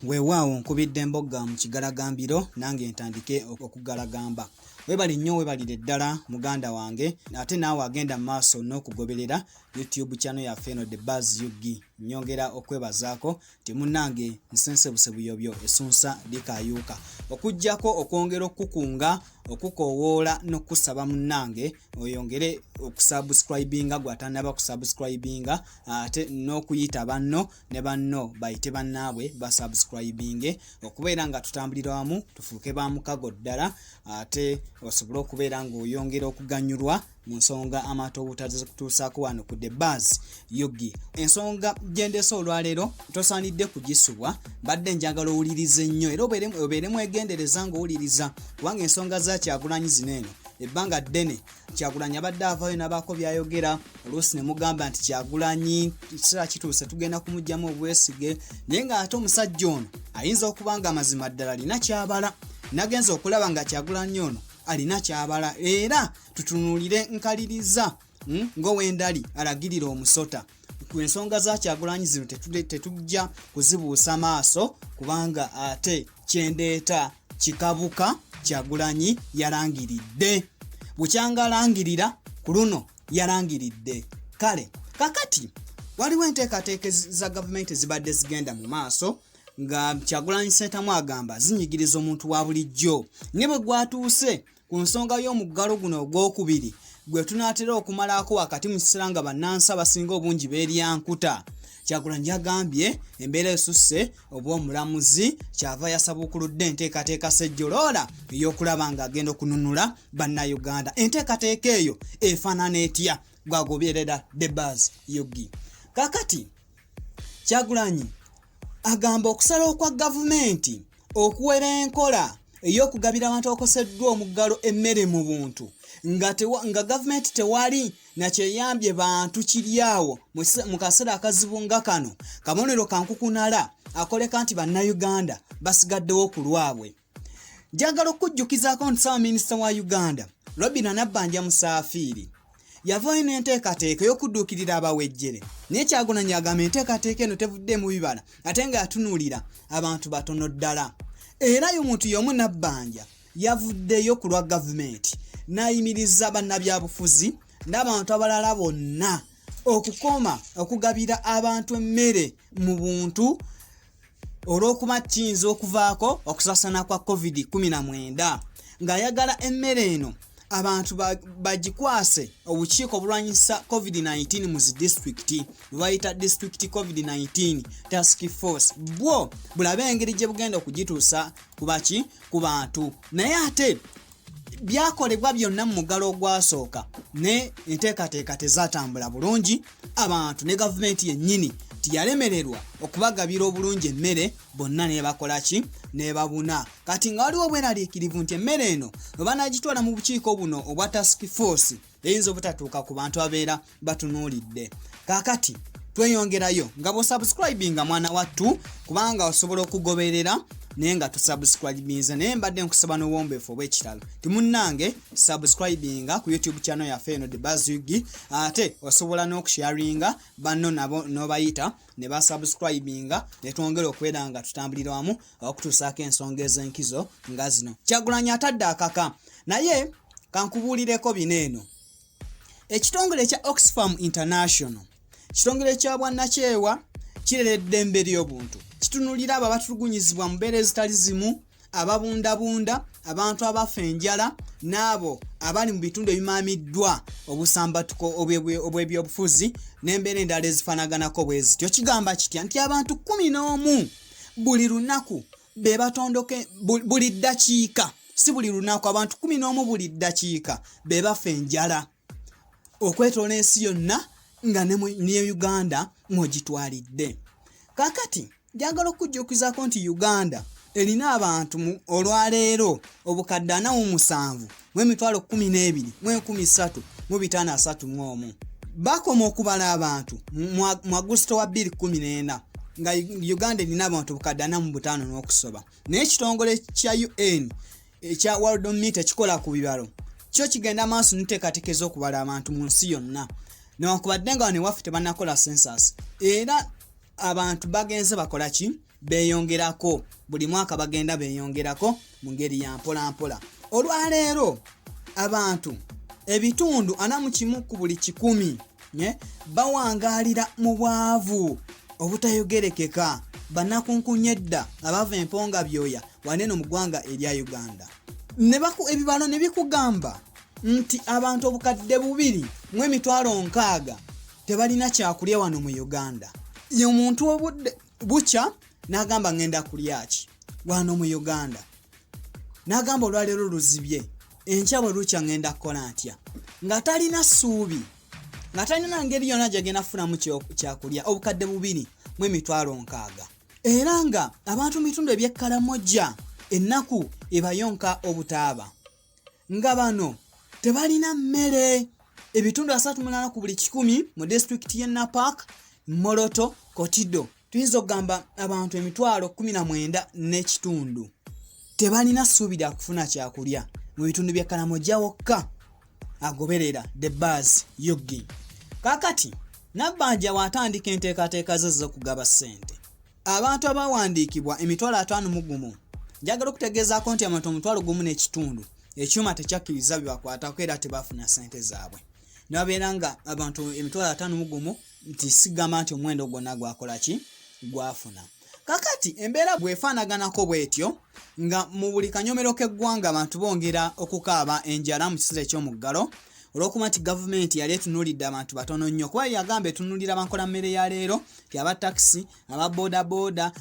weewaawo nkubidde mbogga mu kigalagambiro nange ntandike okugalagamba webali nnyo webalire ddala muganda wange ate naawe agenda mu maaso n'okugoberera youtube channel yaffe eno the bas ug nyongera okwebazaako timunange nsensebuse buyobyo esunsa likayuuka okujjako okwongera okukukunga okukoowoola n'okukusaba munnange oyongere okusubscribinga gwatanaba kusubscribinga ate n'okuyita banno ne banno bayite bannaabwe basubscribinge okubeera nga tutambulira wamu tufuuke ba mukago ddala ate osobole okubeera ng'oyongera okuganyulwa mu nsonga amaato obutazikutuusaako wano ku the bas yogi ensonga gyendese olwaleero tosaanidde kugisubwa mbadde njagala owuliriza ennyo era obeere mwegendereza ngaowuliriza kubanga ensonga za kyagulanyi zino eno ebbanga ddene kyagulanyi abadde avayo nabaako byayogera oluusi ne mugamba nti kyagulanyi kiseera kituuse tugenda kumugjamu obwesige naye ng'ate omusajja ono ayinza okuba nga amazima ddala alina kyabala nagenza okulaba nga kyagulanyi ono alina kyabala era tutunuulire nkaliriza hmm, ng'owendali alagirira omusota ku ensonga za kyagulanyi zino tetujja kuzibuusa maaso kubanga ate kyendeeta kikabuka kyagulanyi yalangiridde bukyanga alangirira ku luno yalangiridde kale kakati waliwo enteekateeka za gavumenti ezibadde zigenda mu maaso nga kyagulanyi sentamu agamba zinyigiriza omuntu wa bulijjo ne bwe gwatuuse Ku nsonga y'omuggalo guno ogwokubiri gwe tunaatera okumalaako wakati mu kiseera nga bannansi abasinga obungi beeryankuta kyagulanyi yagambye embeera esusse obw'omulamuzi kyava yasabuukuludde enteekateeka sejjoloola ey'okulaba ng'agenda okununula bannayuganda enteekateeka eyo efaanana etya gwagoberera debas yogi kakati kyagulanyi agamba okusalawo kwa gavumenti okuwera enkola ey'okugabira abantu abakoseddwa omuggalo emmere mu buntu nga, tewa, nga gavumenti tewali nakyeyambye bantu kiri awo mu kaseera akazibu nga kano kabonero kankukunala akoleka nti bannayuganda basigaddewo ku lwabwe njagala okujjukizaako nti ssaabaminisita wa uganda robina nabbanja musaafiiri yavaayo n'enteekateeka ey'okudduukirira abawejjere naye kyagunanyi agamba enteekateeka eno tevuddemu bibala ate nga yatunuulira abantu batono ddala era yo muntu y'omu nabbanja yavuddeyo ku lwa gavumenti n'ayimiriza bannabyabufuzi n'abantu abalala bonna okukoma okugabira abantu emmere mu buntu olw'okuba kiyinza okuvaako okusasana kwa covid-19 ng'ayagala emmere eno abantu bagikwase obukiiko obulwanyisa covid-19 mu zi disitulikiti bwebayita disitulikiti covid-19 task force bwo bulabe engeri gye bugenda okugituusa kubaki ku bantu naye ate byakolebwa byonna mu mugalo ogwasooka ne enteekateeka tezatambula bulungi abantu ne gavumenti yennyini tiyalemererwa okubagabira obulungi emmere bonna nebakolaki nebabuna kati nga waliwo obweraliikirivu nti emmere eno webanagitwala mu bukiiko buno obwa task force eyinza obutatuuka ku bantu abeera batunuulidde kaakati tweyongerayo nga bwosubscribinga mwana wattu kubanga osobola okugoberera naye nga tusubscribinze naye mbadde nkusaba n'obuwombeefu obw'ekitalo timunnange subscribinga ku youtube channel yaffe eno the bazwigi ate osobola n'okusharinga banno nabo n'obayita ne basubscribinga ne twongera okubeera nga tutambulira wamu okutuusaako ensonga ez'enkizo nga zino kyagulanyi atadde akaka naye kankubuulireko bino eno ekitongole ekya oxfam international kitongole kya bwannakyewa kirera eddembe ly'obuntu kitunulira abo abatulugunyizibwa mu mbeera ezitali zimu ababundabunda abantu abafa enjala n'abo abali mu bitundu ebimaamiddwa obusambatuko obw'ebyobufuzi n'embeera endala ezifanaganako bwe zityo kigamba kitya nti abantu kumi n'omu buli lunaku be batondoke buli ddakiika si buli lunaku abantu kumi n'omu buli ddakiika be bafa enjala okwetoola ensi yonna nga ne uganda mwogitwalidde kakati njagala okujjukizaako nti uganda erina abantu olwaleero obukadde anamu musanvu mu emitwalo kumi n'ebiri mu enkumi ssatu mu bitaano asatu mu omu bakoma okubala abantu mu agusito wa bbiri kumi n'ena nga uganda erina abantu bukadde anamu butaano n'okusoba naye ekitongole kya un ekya world meet ekikola ku bibalo kyo kigenda maaso niteekateeka ez'okubala abantu mu nsi yonna newankubadde nga wano ewaffe tebanakola census era abantu bagenze bakola ki beyongerako buli mwaka bagenda beyongerako mu ngeri ya mpolampola olwaleero abantu ebitundu ana mu kimu ku buli kikumi eh, bawangaalira mu bwavu obutayogerekeka banakunkunya edda abava emponga byoya waneeno mu ggwanga erya uganda ebibalo ne bikugamba nti abantu obukadde bubiri mu emitwalo nkaaga tebalina kyakulya wano mu uganda omuntu obudde bukya n'agamba ŋŋenda kulyaki wano mu uganda n'agamba olwaleero luzibye enkya bwe lukya ŋŋenda kukola ntya nga talina ssuubi nga talina ngeri yonna gyegenda kufunamu kyakulya obukadde bubiri mu emitwalo nkaaga era nga abantu mu bitundu ebyekkalamojja ennaku ebayonka obutaaba nga bano tebalina mmere ebitundu asatu munana ku buli kikumi mu disitulikiti y'e napak moloto kotido tuyinza okugamba abantu emitwalo 19 n'ekitundu tebalina ssuubi lya kufuna kyakulya mu bitundu bya kalamoja wokka agoberera the bas yogi kakati nabbanja waatandika enteekateeka ze z'okugaba ssente abantu abawandiikibwa emitwalo ataano mu gumu njagala okutegeezaako nti abantu omutwalo gumu n'ekitundu ekyuma tekyakkiriza bibakwatako era tebafuna sente zaabwe nababeera nga abantu emitwalo ataano mu gumu nti sigamba nti omuwendo gwonna gwakola ki gwafuna kakati embeera bwefaanaganako bwetyo nga mu buli kanyomero k'eggwanga abantu bongera okukaaba enjala mu kiseera eky'omuggalo olwokuba nti gavumenti yali etunuulidde abantu batono nnyo kuba yagamba etunuulira bankola mmere ya leero aba taxi aba bodaboda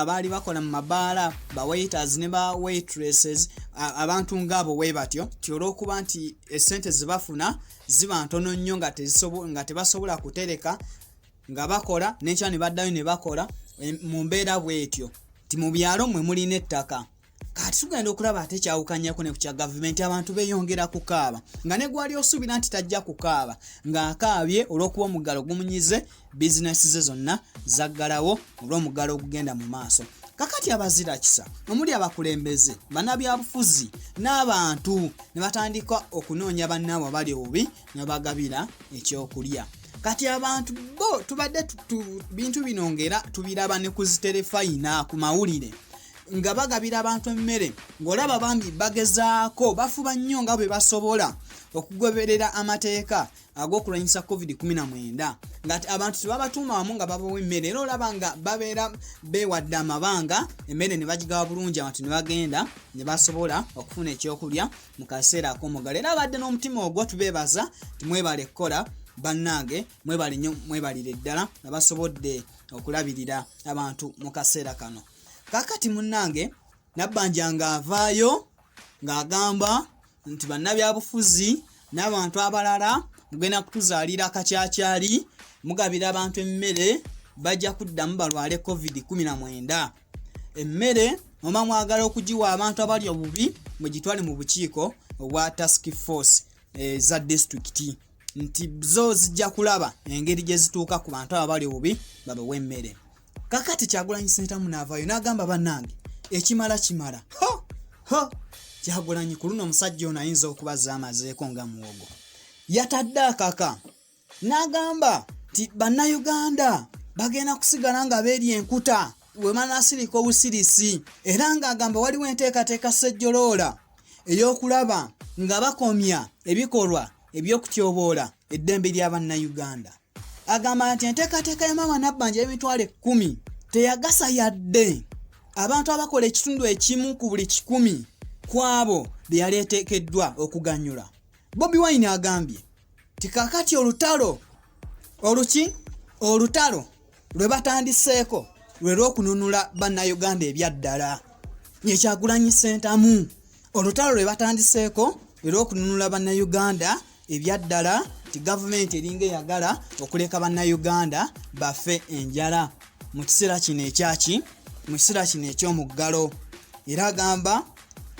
abaali bakola mu mabaala ba waiters ne ba waitresses abantu ngaabo we batyo ti olwokuba nti esente zebafuna ziba ntono nnyo nga tebasobola kutereka nga bakola nekyo ne baddayo ne bakola mu mbeera bwetyo ti mu byalo mwe mulina ettaka kati tugenda okulaba ate kyawukanyako ne ku kya gavumenti abantu beyongera kukaaba nga ne gwali osuubira nti tajja kukaaba ng'akaabye olw'okuba omuggalo gumunyize bizinesi ze zonna zaggalawo olw'omuggalo ogugenda mu maaso kakati abazira kisa omuli abakulembeze banabyabufuzi n'abantu ne batandika okunoonya bannaabwe abali obubi ne bagabira ekyokulya kati abantu bo tubadde bintu bino ng'era tubiraba ne ku ziterefayina ku mawulire nga bagabira abantu emmere ng'olaba bambi bagezaako bafuba nnyo nga bwe basobola okugoberera amateeka ag'okulwanyisa covid-19 ngati abantu tebabatuuma wamu nga babawa emmere era olaba nga babeera beewadde amabanga emmere ne bagigawa bulungi abantu ne bagenda ne basobola okufuna ekyokulya mu kaseera ak'omugalo era abadde n'omutima ogwo tubeebaza timwebale kukola bannange mwebale nnyo mwebalire ddala abasobodde okulabirira abantu mu kaseera kano kakati munnange nabbanja ng'avaayo ng'agamba nti bannabyabufuzi n'abantu abalala mugenda kutuzaalira akakyakyali mugabira abantu emmere bajja kuddamu balwale covid 19 emmere oba mwagala okugiwa abantu abali obubi mugitwale mu bukiiko obwa task force eza eh, disitulikiti nti zo zijja kulaba engeri gye zituuka ku bantu abo bali obubi babawa emmere kakati kyagulanyi sentamu naavayo nagamba banange ekimala kimala ho ho kyagulanyi ku luno omusajja ono ayinza okubaza amazeeko nga muwogo yatadde akaka n'agamba nti bannayuganda bagenda kusigala nga beeri enkuta wemanasirika obusirisi era ng'agamba waliwo enteekateeka ssejjoloola ey'okulaba nga bakomya ebikolwa eby'okutyoboola eddembe lya bannayuganda Agamba nti enteekateeka ya Maama Nabbanja y'emitwalo ekkumi teyagasa yadde abantu abakola ekitundu ekimu ku buli kikumi ku abo be yali eteekeddwa okuganyula. Bobi Wine agambye nti kakati olutalo oluki olutalo lwe batandiseeko lwe lw'okununula bannayuganda ebyaddala ye kyagulanyi sentamu olutalo lwe batandiseeko lwe lw'okununula bannayuganda ebyaddala nti gavumenti eringa eyagala okuleka bannayuganda bafe enjala mu kiseera kino ekyaki mu kiseera kino eky'omuggalo era agamba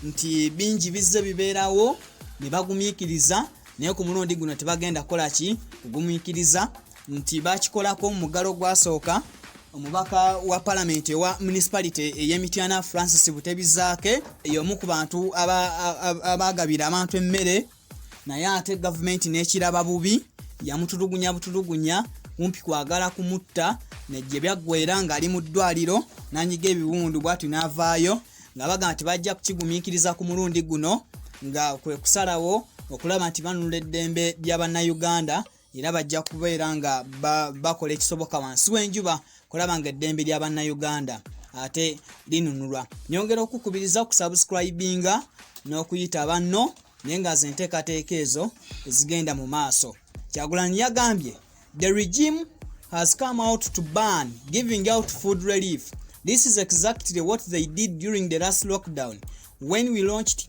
nti bingi bizze bibeerawo ne bagumiikiriza naye ku mulundi guno tebagenda kukola ki kugumiikiriza nti bakikolako omumugalo gwasooka omubaka wa palamenti ewa municipality eyemityana francis butebizaake yomu ku bantu abagabira abantu emmere naye ate gavumenti nekiraba bubi yamutulugunya butulugunya kumpi kwagala kumutta negye byaggwera ngaali mu ddwaliro nanyiga ebiwundu bwati navaayo nga bagamba nti bajja kukigumiikiriza ku mulundi guno nga kwekusalawo okulaba nti banunula eddembe lya bannayuganda era bajja kubeera nga bakola ekisoboka wansi w'enjuba kulaba nga eddembe lya bannayuganda ate linunulwa nyongera okukubiriza okusubscribinga n'okuyita banno naye nga ze nteekateeka ezo ezigenda mu maaso kyagulanyi yagambye the regime has come out to ban giving out food relief this is exactly what they did during the last lockdown when we launched